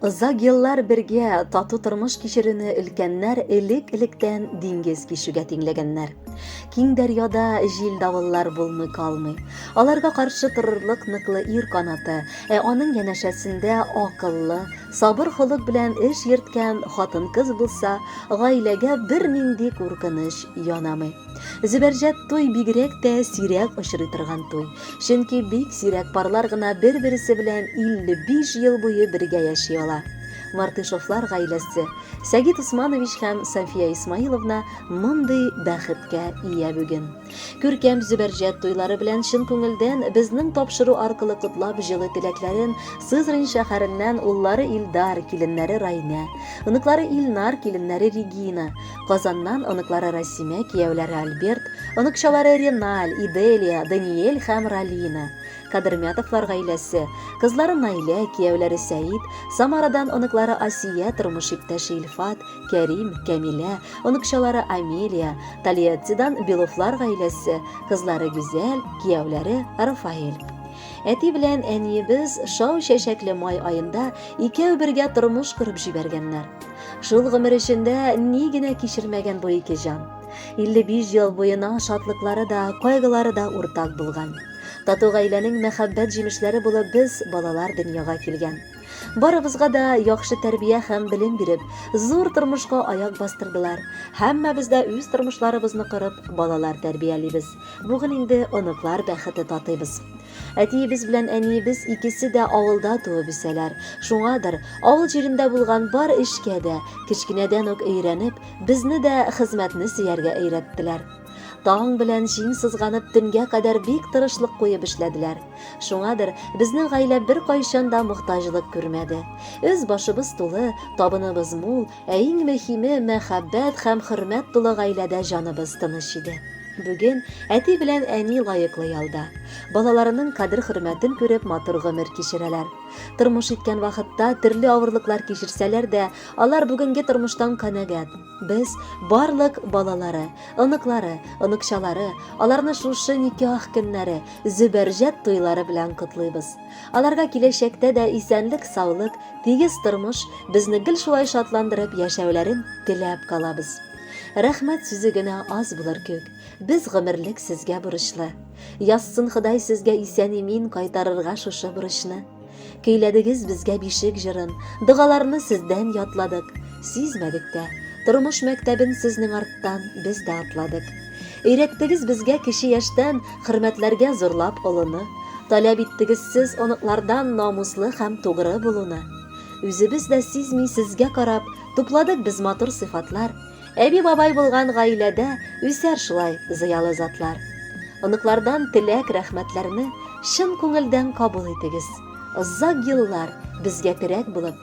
Озак еллар бергә тату тормыш кичерүне өлкәннәр элек-электән диңгез кишүгә тиңләгәннәр. Киң дәрьяда җил давыллар булмый калмый. Аларга каршы торырлык ныклы ир канаты, ә аның янәшәсендә акыллы, сабыр холык белән эш йөрткән хатын-кыз булса, гаиләгә бернинди куркыныч янамый. Зөбәрҗәт туй бигрәк тә сирәк очрый торган туй. Чөнки бик сирәк парлар гына бер-берсе белән 55 ел буе бергә яши ала. Мартышевлар гаиләсе, Сәгит Усманович һәм София Исмаиловна мондый бәхеткә ия бүген. Күркәм Зөбәрҗәт туйлары белән чын күңелдән безнең тапшыру аркылы котлап җылы теләкләрен Сызрань шәһәреннән уллары Илдар, киленнәре Райнә, оныклары Илнар, киленнәре Регина, Казаннан оныклары Расимә, кияүләре Альберт, оныкчалары Реналь, Иделия, Даниэль һәм Ралина, Кадырмятовлар гаиләсе, кызлары Наилә, кияүләре Сәид, Самарадан оныклары Асия, тормыш иптәше Илфат, Кәрим, Кәмилә, оныкчалары Амелия, Тольяттидан Беловлар гаиләсе, кызлары Гүзәл, кияүләре Рафаэль. Әти белән әниебез шау чәчәкле май аенда икәү бергә тормыш корып җибәргәннәр. Шул гомер эчендә ни генә кичермәгән бу ике җан. 55 ел буена шатлыклары да, кайгылары да уртак булган. Тату гаиләнең мәхәббәт җимешләре булып без балалар дөньяга килгән. Барыбызга да яхшы тәрбия һәм белем биреп, зур тормышка аяк бастырдылар. Һәммәбез дә үз тормышларыбызны корып, балалар тәрбиялибез. Бүген инде оныклар бәхете татыйбыз. Әтиебез белән әниебез икесе дә авылда туып үсәләр. Шуңадыр, авыл җирендә булган бар эшкә дә, кечкенәдән үк өйрәнеп, безне дә хезмәтне сөяргә өйрәттеләр. Таң белән җиң сызганып, төнгә кадәр бик тырышлык куеп эшләделәр. Шуңадыр, безнең гаилә беркайчан да мохтаҗлык күрмәде. Өс-башыбыз тулы, табыныбыз мул, Ә иң мөһиме, мәхәббәт һәм хөрмәт тулы гаиләдә җаныбыз тыныч иде. Бүген әти белән әни лаеклы ялда. Балаларының кадер-хөрмәтен күреп, матур гомер кичерәләр. Тормыш иткән вакытта төрле авырлыклар кичерсәләр дә, алар бүгенге тормыштан канәгать. Без, барлык балалары, оныклары, оныкчалары, аларны шушы никях көннәре, зөбәрҗәт туйлары белән котлыйбыз. Аларга киләчәктә дә исәнлек-саулык, тигез тормыш, безне гел шулай шатландырып яшәүләрен теләп калабыз. Рәхмәт сүзе генә аз булыр кеүк. Без гомерлек сезгә бурычлы. Язсын Ходай сезгә исән-имин кайтарырга шушы бурычны. Көйләдегез безгә бишек җырын, догаларны сездән ятладык. Сизмәдек тә. Тормыш мәктәбен сезнең арттан без дә атладык. Өйрәттегез безгә кече яшьтән хөрмәтләргә зурлап олыны, таләп иттегез сез оныклардан намуслы һәм тугры булуны. Үзебез дә сизми сезгә карап, тупладык без матур сыйфатлар. Әби-бабай булган гаиләдә үсәр шулай зыялы затлар. Оныклардан теләк, рәхмәтләрне чын күңелдән кабул итегез. Озак еллар безгә терәк булып,